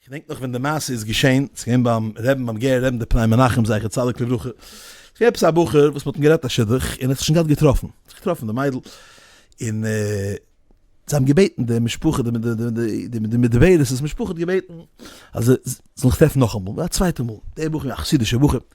כ'דענק נאך ווען די מעשה איז געשען, ס'איז געווען ביים רעבן ביים גער רעבן די פני מנחם זכר צדיק לברכה, ס'איז געווען עפעס א בחור וואס מ'האט אים גערעדט א שידוך און ער האט זיך שוין געהאט געטראפן, ער האט זיך געטראפן מיט די מיידל און זיי האבן געבעטן די משפחה די די די מדברת משפחה האט געבעטן אז זיי זאלן זיך טרעפן נאכאמאל א צווייטע מאל, דער בחור א חסידישער בחור,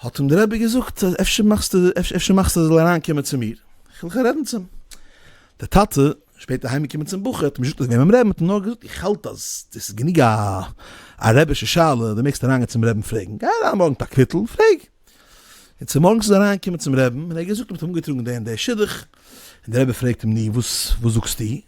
האט אים דער רבי געזאגט, אפשר מאכסטו אפשר מאכסטו ער זאל אריינקומען צו מיר, איך וויל רעדן צו אים. דער טאטע, שפעטער אהיימגעקומען צום בחור, האט אים נישט געזאגט וועם אים רעדן, האט אים נאר געזאגט, איך האלט אז דאס איז גענוג א א רבי'שע שאלה, דו מעגסט אריינגיין צום רבי'ן פרעגן, גיי אריין מארגן מיט א קוויטל און פרעג. און צומארגנס איז ער אריינגעקומען צום רבי'ן און ער האט געזאגט, מען האט אים אנגעטראגן דער און דער שידוך, און דער רבי פרעגט אים, נו, וואס זאגסטו?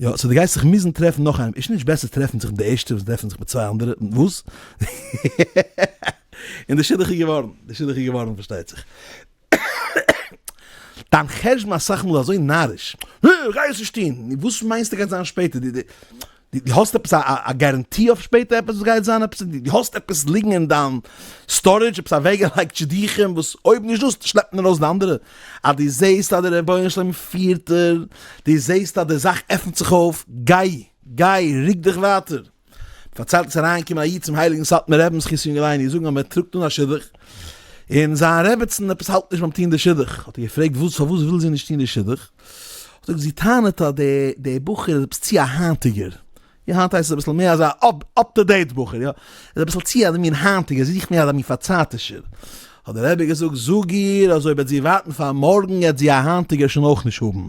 יא, סאו דו גייסט זיך מוזן טרעפן נאך איינעם, איז נישט בעסער טרעפן זיך מיט די ערשטע וואס טרעפן זיך מיט צוויי אנדערע וואס? און די שידוך איז געווארן, די שידוך איז געווארן פארשטייט זיך. דיין חשבון אסאך מאל אזוי נאריש, אה, כ'גיי עס נישט טון, נו וואס מיינסטו גייט זיין שפעטער, די די די האסט עפעס א גאראנטי אויף שפעטער עפעס וואס גייט זיין עפעס, די האסט עפעס ליגן אין דיין סטארעדזש עפעס אוועקגעלייגט שידוכים וואס אויב נישט דאס שלעפט מען ארויס די אנדערע. אז דו זעהסט אז דער רבונו של עולם פירט דיר, דו זעהסט אז די זאך עפנט זיך אויף, גיי, גיי, רוק דיך ווייטער. פארציילט איז אריינגעקומען א איד צום הייליגן סאטמאר רב'ן זכות יונגעל איינער זאגן אז מען טראגט אן א שידוך, און זיין רעבעצן עפעס האלט נישט ביים טון די שידוך, האט ער געפרעגט וואס פארוואס וויל זי נישט טון די שידוך, האט ער געזאגט זי טענה'ט אז די בחור איז עפעס צו א היינטיגער, יא היינט הייסט עס אביסל מער אזא אפ טו דעיט בחור יא, איז אביסל צו אזא מין היינטיגער, ער זוכט מער אזא מין פארצייטישער, האט דער רבי געזאגט זאג איר אז אויב וועט זי ווארטן פאר מארגן עט זי א היינטיגער שוין אויך נישט האבן,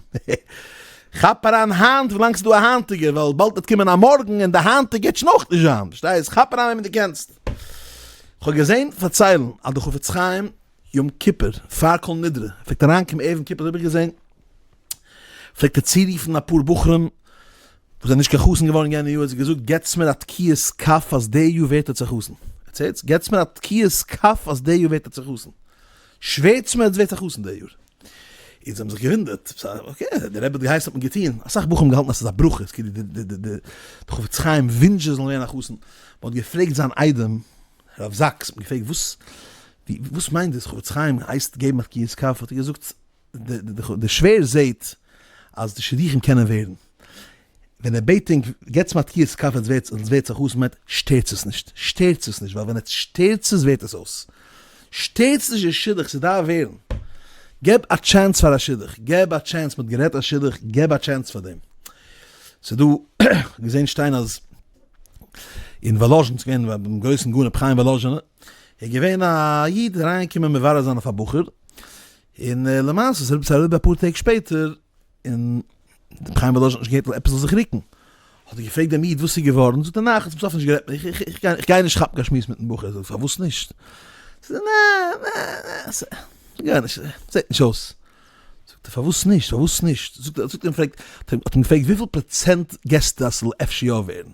כאפ אריין היינט ווילאנג ס'איז דא א היינטיגער ווייל באלד וועט קומען א מארגן און די היינטיגע וועט שוין אויך נישט זיין, פארשטייסט? כאפ אריין וועמען דו קענסט. כ'האב געזען פארציילן אז די חפץ חיים יום כיפור פאר כל נדרי פלעגט אריינקומען ערב יום כיפור האב איך געזען פלעגט ער צורופן אפאר בחורים וואס איז נישט קיין חתן געווארן יענע יאר האט זי געזאגט געטס מיר א תקיעת כף אז די יאר ווערט עטס א חתן, עטס הערטס? געטס מיר א תקיעת כף אז די יאר ווערט עטס א חתן, שווערטס מיר עטס ווערטס א חתן די יאר, און זיי האבן זיך געוואונדערט, אקעי די רבי האט געהייסן האט מען געטון, אסאך בחורים האבן געהאלטן אז עס איז א ברכה, עס כאילו די די די חפץ חיים ווינטשט זיי זאלן ווערן א חתן, מען האט געפרעגט זיין איידעם הרב זאקס, מען האט געפרעגט וואס מיינט דאס חפץ חיים הייסט געבן א תקיעת כף, האט ער געזאגט. די שווער זעהט אז די שידוכים קענען ווערן, ווען ער בעט ענק געטס מיר תקיעת כף עטס ווערטס עטס ווערטס א חתן בעת שטערטס עס נישט, שטערטס עס נישט ווייל ווען עטס שטערטס עס ווערט עס אויס, שטערטס נישט די שידוך ס'דארף ווערן, געב א טשענס פאר א שידוך, געב א טשענס מ'האט גערעדט א שידוך געב א טשענס פאר דעם, ס'דא געזעהן שטיין אז אין וואלאזשין ס'איז געווען ביים גרויסן גאון רבי חיים וואלאזשינער איז געווען א איד אריין געקומען מברר זיין אויף א בחור. און למעשה איז רבי צבי אפאר טעג שפעטער און רבי חיים וואלאזשין האט נישט געהערט אז עפעס זאל זיך רוקן, האט ער געפרעגט דעם איד וואס איז געווארן, זאגט ער ניין איך האב צום סוף נישט גערעדט, איך גיי נישט כאפן קיין שמועס מיטן בחור, זאגט ער פארוואס נישט, זאגט ער ניין ניין ניין ס'זעט נישט אויס, זאגט ער פארוואס נישט פארוואס נישט, זאגט ער האט אים געפרעגט וויפיל פראצענט געסטו אז ס'זאל אפשר יא ווערן,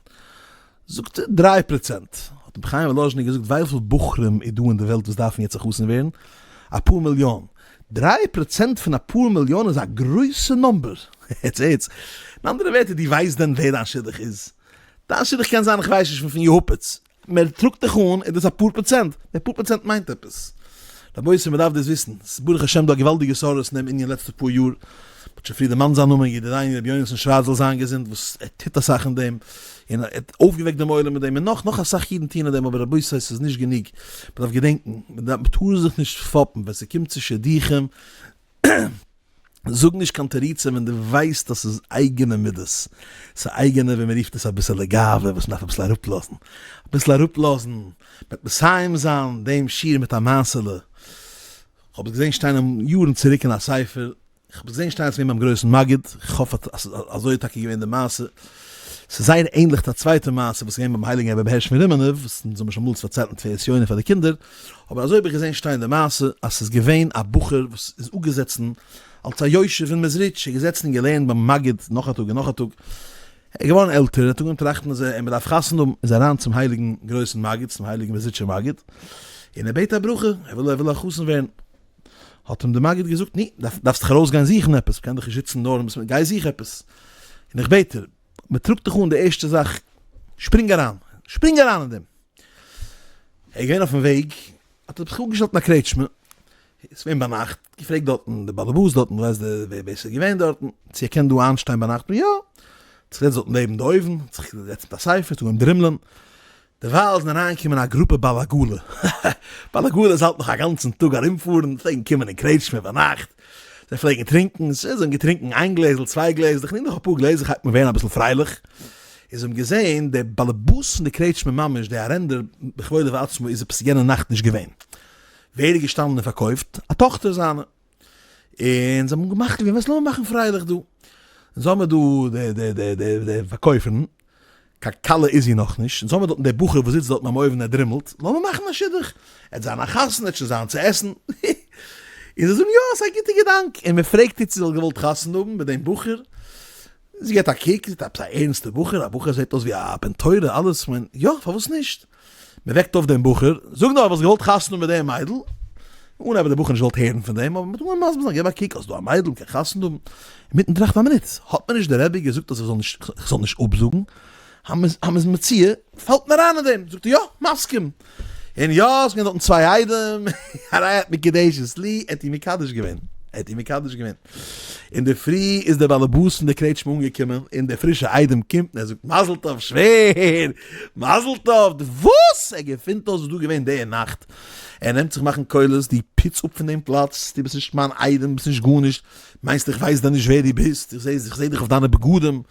זאגט דריי פראצענט. האט רבי חיים וואלאזשנער געזאגט ווייפיל בחורים איז דא אין די וועלט וואס דארפן יעצט חתונה ווערן? אפאר מיליאן. דריי פראצענט פון אפאר מיליאן איז א גרויסע נאמבער. הערטס הערטס. אין אנדערע ווערטער דו ווייסט דען ווער דיין שידוך איז? דיין שידוך קען זיין כ'ווייס נישט פון יעהופעץ. מען טראגט דיך אן איז דאס אפאר פראצענט. די פאר פראצענט מיינט עפעס. רבותי מען דארף דאס וויסן. ס'איז ברוך השם דא א געוואלדיגע סארס אין דעם ענין לעצטע פאר יאר. מ'האט שוין פריער דערמאנט זיין נאמען ידידינו רבי יונתן שווארץ זאל זיין געזונט וואס ער טוט אסאך אין דעם. און ער האט אויפגעוועקט דעם עולם מיט דעם, און נאך, נאך אסאך אידן טוען דעם, אבער רבותי ס'איז נישט גענוג, מ'דארף געדענקן, מ'טאר זיך נישט פאפן ווען ס'קומט צו שידוכים, זאג נישט קיין תירוצים ווען דו ווייסט אז ס'איז אייגענע מידות, ס'איז א אייגענע ווי מ'רופט עס אביסעלע גאווה וואס מ'דארף אביסל אראפלאזן, אביסל אראפלאזן, מ'וועט מסיים זיין דעם שיעור מיט א מעשה'לע, כ'האב עס געזען שטיין יארן צוריק אין א ספר, כ'האב געזען שטייען צוויי ביים גרויסן מגיד, כ'האף אז אזוי איז טאקע געווען די מעשה. ס'איז זייער ענדליך צו א צווייטע מעשה וואס איז געווען ביים הייליגן רבי הערש פון רימנוב, וואס אונז האבן שוין אמאל פארציילט אין תפארת יונה פאר די קינדער, אבער אזוי האב איך געזען שטיין די מעשה, אז ס'איז געווען א בחור וואס איז אפגעזעצן אלס א יושב אין מעזריטש, ער איז געזעצן און געלערנט ביים מגיד נאך א טאג און נאך א טאג, ער איז געווארן עלטער, ער האט אנגעהויבן טראכטן אז ער מ'דארף חתונה האבן, איז ער אריין צום הייליגן גרויסן מגיד, צום הייליגן מעזריטשער מגיד, און ער בעט א ברכה, ער וויל א חתן ווערן. האט אים די מגיד געזאגט, ני, דארפסט דיך ארויס גיין זוכן עפעס, מ'קען דיך נישט זיצן נאר מיט, גיי זוך עפעס. און איך בעט דיר, מ'טראגט דיך אן די ערשטע זאך, שפרינג אריין, שפרינג אריין אין דעם. ער איז געווען אויפן וועג, האט ער זיך אפגעשטעלט אין א קרעטשמע, איז געווען ביינאכט, געפרעגט דארטן די באלעבאס דארטן, ווייסט דער ווער ווער ס'איז געווען דארטן, צו ער קען דא איינשטיין ביינאכט, יא, האט זיך געזעצט דארט נעבן די אויוון, האט זיך געזעצט מיט א ספר, און אנגעהויבן דרימלען, דערווייל איז אריינגעקומען א גרופע בעל עגלה, בעל עגלה איז האלט נאך א גאנצן טאג ארומפארן, פלעגן קומען אין קרעטשמע ביינאכט, זיי פלעגן טרינקן, ס ה זיי האבן געטרינקן איין גלעזל צוויי גלעזל, איך נעם נאך אפאר גלעזל כ'הייב אן ווערן אביסל פרייליך, און זיי האבן געזען דער באלעבאס פון די קרעטשמע ממש דער ארענדער בכבודו ועצמו איז עפעס יענע נאכט נישט געווען, ווער איז געשטאנען און פארקויפט? א טאכטער זיינע, און זיי האבן געמאכט ווי וואס לאמיר מאכן פרייליך דא, אונז האמער דא די די די די די פארקויפערן, קיין כלה איז זי נאכנישט, אונז האמער דארטן דער בחור וואס זיצט דארטן ביים אויוון ער דרימלט, לאמיר מאכן א שידוך, עט זיין א חתונה, עט שוין זיין צו עסן, הי הי, און זיי זאגן יא ס'איז א גוטע געדאנק, און מען פרעגט איר צו זי וואלט געוואלט חתונה האבן מיט דעם בחור, זי געט א קוק, זי זעט עפעס א ערנסטע בחור, א בחור זעט אויס ווי א בן תורה, אלעס, כ'מיין יא פארוואס נישט. מען וועקט אויף דעם בחור, זאג נאר, האסט געוואלט חתונה מיט דעם מיידל? אן אבער דער בחור נישט געוואלט הערן פון דעם, האט מען געווען מסביר זיין, געב א קוק, האסט דא א מיידל, מען קען חתונה האבן. אינמיטן טראכטן, א מינוט, האט מיר נישט דער רבי געזאגט אז איך זאל נישט אפזאגן? המז מציאה פאלט מיר איין אין דעם, זאגט ער, יא, מסכים. און יא, עס זענען דארטן צוויי איידעם, הרי את מקדשת לי, ער האט איר מקדש געווען, ער האט איר מקדש געווען. אינדערפרי איז דער באלעבאס פון דער קרעטשמע אנגעקומען, און דער פרישער איידעם קומט און ער זאגט, מזל טוב שווער! מזל טוב! די וואס? ער געפינט אויס וואס דא געווען די נאכט? ער נעמט זיך מאכן קולות, דו פוץ אפ פון דעם פלאץ, דו ביסט נישט מיין איידעם, ביסט נישט גארנישט, מיינסט איך ווייס דען נישט ווער דו ביסט? איך זע דיך אויף דיינע בגדים,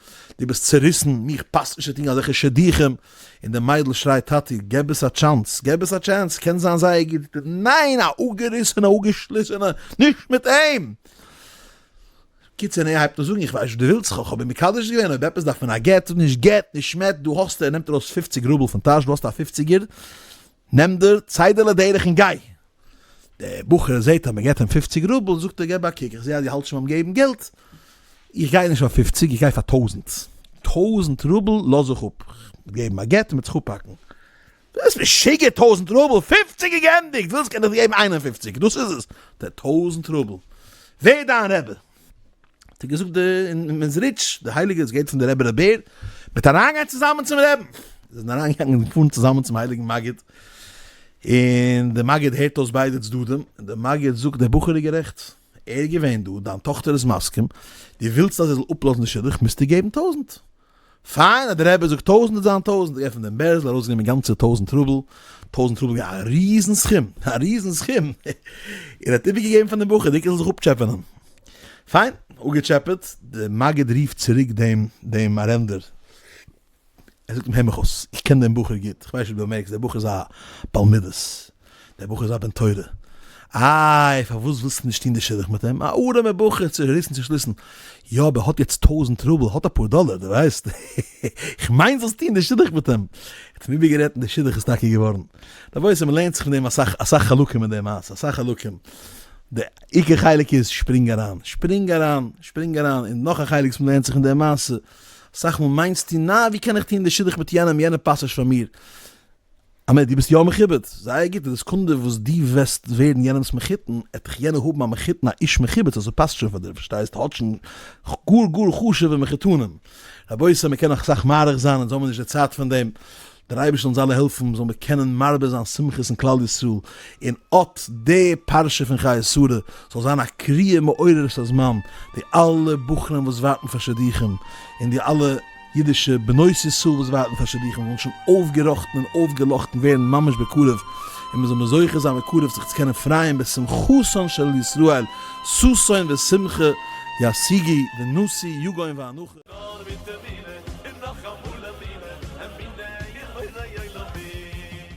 דו ביסט צוריסן, מיך פאסט נישט צו טון אזעלכע שידוכים, און די מיידל שרייט טאטי געב עס א טשאנס געב עס א טשענס קען זיין זייער גוט די ניין א אפגעריסענע אפגעשליסענע נישט מיט אים קיצער און ער הייבט אן זאגן איך ווייס וואס די ווילסט כ'האב אים מקדש געווען אויב עפעס דארף מען א גט נישט גט נישט מעט דא האסטו ער נעמט ארויס פופציג רובל פון טאש דא האסטו א פופציגער נעם דער ציידעלע דרך און גיי! דער בחור זעט אז מען געבט אים פופציג רובל, זאגט ער געב א קוק, איך זע אז דו האלטסט שוין ביים געבן געלט, איך גיי נישט פאר פופציג, איך גיי פאר טויזנט! טויזנט רובל לאז איך אפ, מ'וועט געבן א גט און מ'וועט זיך אפהאקן. דו ביסט משוגע! טויזנט רובל! פופציג איז גענדיגט! ווילסט קען איך דיר געבן איין און פופציג! דאס איז עס! די טויזנט רובל! ווער דיין רבי? האט ער געזאגט די אין מעזריטש די הייליגע איז געהערט פון די רבי רבי'ן מיט אריינגיין צוזאמען צום רעבן זיי זענען אריינגעגאנגען און געפארן צוזאמען צום הייליגן מגיד און די מגיד הערט אויס ביידע צדדים און די מגיד זאגט די בחור איז גערעכט ער איז געווען דא דיין טאכטער איז מסכים די ווילסט אז ער זאל אפלאזן די שידוך מיזטו געבן טויזענט פיין אז די רבי זאגט טויזענט וועט זיין טויזענט, געפענט דעם בערזל ארויסגענומען גאנצע טויזענט רובל, טויזענט רובל געווען א ריזן סכום, א ריזן סכום, און האט איבערגעגעבן פאר דעם בחור דיקא זאל זיך אפטשעפענען, פיין, אפגעטשעפעט, די מגיד רופט צוריק דעם דעם ארענדער, ער זאגט אים הער מיך אויס, איך קען דעם בחור גוט, איך ווייס נישט אויב דו באמערקסט, דער בחור איז א בעל מידות, דער בחור איז א בן תורה. איי, פארוואס ווילסטו נישט טון די שידוך מיט אים? א ארעמער בחור צו ריסן צו שליסן. יא, אבער ער האט יעצט טויזנט רובל, ער האט אפאר דאלער, דו ווייסט. איך מיין זאלסט טון די שידוך מיט אים. ער האט אים איבערגערעדט און די שידוך איז טאקע געווארן. רבותי, מ'לערנט זיך פון דעם אסאך, אסאך חלקים אין די מעשה, אסאך חלקים. די עיקר חלק איז, שפרינג אריין, שפרינג אריין, שפרינג אריין. און נאך א חלק וואס מ'לערנט זיך אין די מעשה, אסאך מאל מיינסטו, נא, ווי קען איך טון די שידוך מיט יענעם, יענער פאסט נישט פאר מיר. אמת, דו ביסט יא מכובד, זייער גוט, אין די סעקונדע וואס דו וועסט ווערן יענעמ'ס מחותן, עט דיך יענער האבן א מחותן א איש מכובד, סאו ס'פאסט שוין פאר דיר, פארשטייסט, האט שוין גאר גאר חשוב'ע מחותנים, רבותי מ'קען נאך אסאך מאריך זיין, אונז האמיר נישט די צייט פון דעם, דער אייבערשטער זאל אונז אלע העלפן זאל מיר קענען מרבה זיין שמחות אין כלל ישראל, און אט די פרשה פון חיי שרה זאל זיין א קריאה מעוררת הזמן, די אלע בחורים וואס ווארטן פאר שידוכים, און די אלע. אידישע בנות ישראל וואס ווארטן פאר שידוכים זאלן שוין אויפגעראכטן און אויפגעלאכטן ווערן ממש בקרוב, און מען זאל מיר זוכה זיין בקרוב זיך צו קענען פרייען בשמחתן של ישראל, ששון ושמחה ישיגי ונשיא יגון ואנחה. נאר מיט תפילה און נאכאמאל אמינה, אמונה איר בורא עולמים.